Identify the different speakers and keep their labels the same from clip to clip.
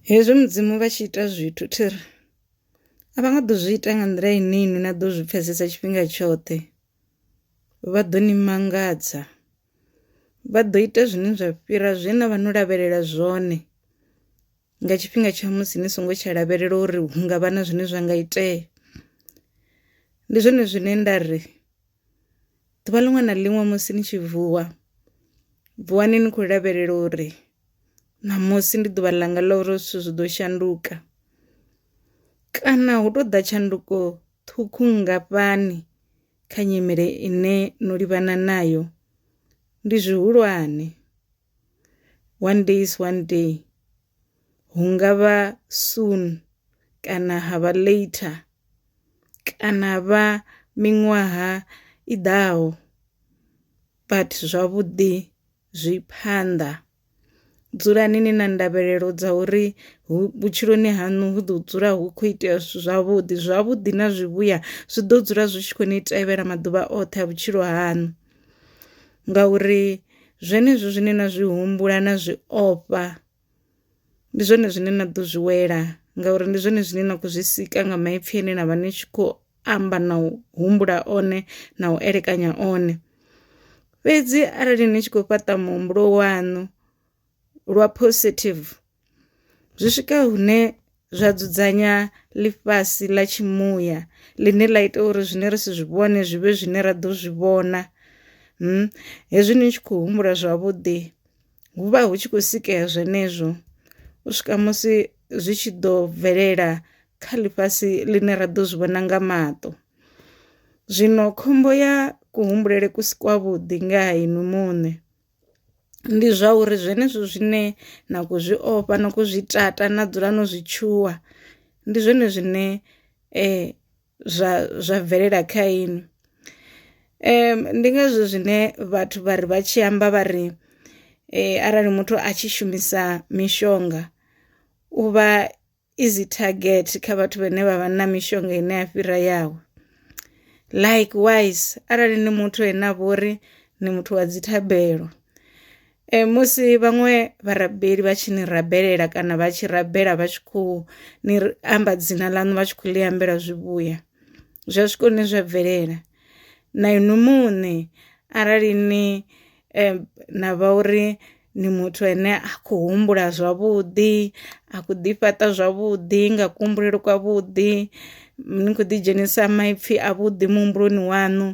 Speaker 1: Hezwi Mudzimu vha tshi ita zwithu, thi ri, A vha nga ḓo zwi ita nga nḓila ine inwi na ḓo zwi pfesesa tshifhinga tshoṱhe. Vha ḓo ni mangadza. Vha ḓo ita zwine zwa fhira zwe na vha no lavhelela zwone nga tshifhinga tsha musi ni songo tsha lavhelela uri hu nga vha na zwine zwa nga itea. Ndi zwone zwine nda ri. Ḓuvha ḽiṅwe na ḽiṅwe musi ni tshi vuwa vuwani ni khou lavhelela uri ṋamusi ndi ḓuvha ḽanga ḽa uri zwithu zwi ḓo shanduka kana hu tou ḓa tshanduko ṱhukhu nngafhani kha nyimele ine no livhana nayo ndi zwihulwane. one day is one day hu ngavha soon kana ha vha later kana ha vha miṅwaha i ḓaho but zwavhuḓi zwi phanḓa. Dzulani ni na ndavhelelo dza uri hu vhutshiloni hanu hu ḓo dzula hu kho itea zwithu zwavhuḓi zwavhuḓi na zwivhuya zwi ḓo dzula zwi tshi kho ni tevhela maḓuvha oṱhe a vhutshilo haṋu. ngauri zwenezwo zwine na zwi humbula na zwi ofha ndi zwone zwine na ḓo zwi wela ngauri ndi zwone zwine na khou zwi sika nga maipfi ane na vha ni tshi khou amba na u humbula one na u elekanya one. Fhedzi arali ni tshi khou fhaṱa muhumbulo waṋu lwa positive. Zwi swika hune zwa dzudzanya ḽifhasi ḽa tshi muya ḽine ḽa ita uri zwine ri si zwi vhone zwi vhe zwine ra ḓo zwi vhona, hezwi ni tshi khou humbula zwavhuḓi hu vha hu tshi khou sikela zwenezwo u swika musi zwi tshi ḓo bvelela kha ḽifhasi ḽine ra ḓo zwi vhona nga maṱo. Zwino khombo ya kuhumbulele ku si kwa vhuḓi nga ha inwi muṋe. ndi zwa uri zwenezwo zwine na kho zwi ofha na kho zwi tata na dzula no zwi tshuwa ndi zwone zwine zwa zwa bvelela kha inwi. Ndi ngazwo zwine vhathu vha ri vha tshi amba vha ri arali muthu a tshi shumisa mishonga u vha easy target kha vhathu vhane vha vha na mishonga ine ya fhira yawe likewise arali ni muthu ene a vhori ni muthu wa dzithabelo e, musi vhaṅwe vharabeli vha tshi ni rabelela kana vha tshi rabela vha tshi khou ni amba dzina ḽaṋu vha tshi khou ḽi ambela zwivhuya zwa swika hune zwa bvelela na inwi muṋe arali ni eh, na vha uri ndi muthu ane a khou humbula zwavhuḓi a khou ḓi fhaṱa zwavhuḓi nga kuhumbulele kwa vhuḓi ni kho ḓi dzhenisa maipfi a vhuḓi muhumbuloni waṋu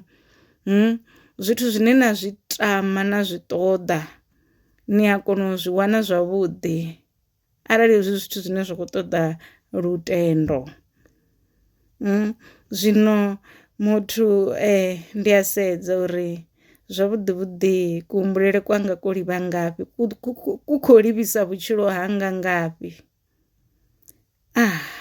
Speaker 1: zwithu zwine na zwi tama na zwi ṱoḓa ni a kona u zwi wana zwavhuḓi. arali hezwi zwithu zwine zwa khou ṱoḓa lutendo. Zwino muthu ndi a sedza uri zwavhuḓi vhuḓi ku humbulele kwanga ko livha ngafhi ku kho livhisa vhutshilo hanga ngafhi .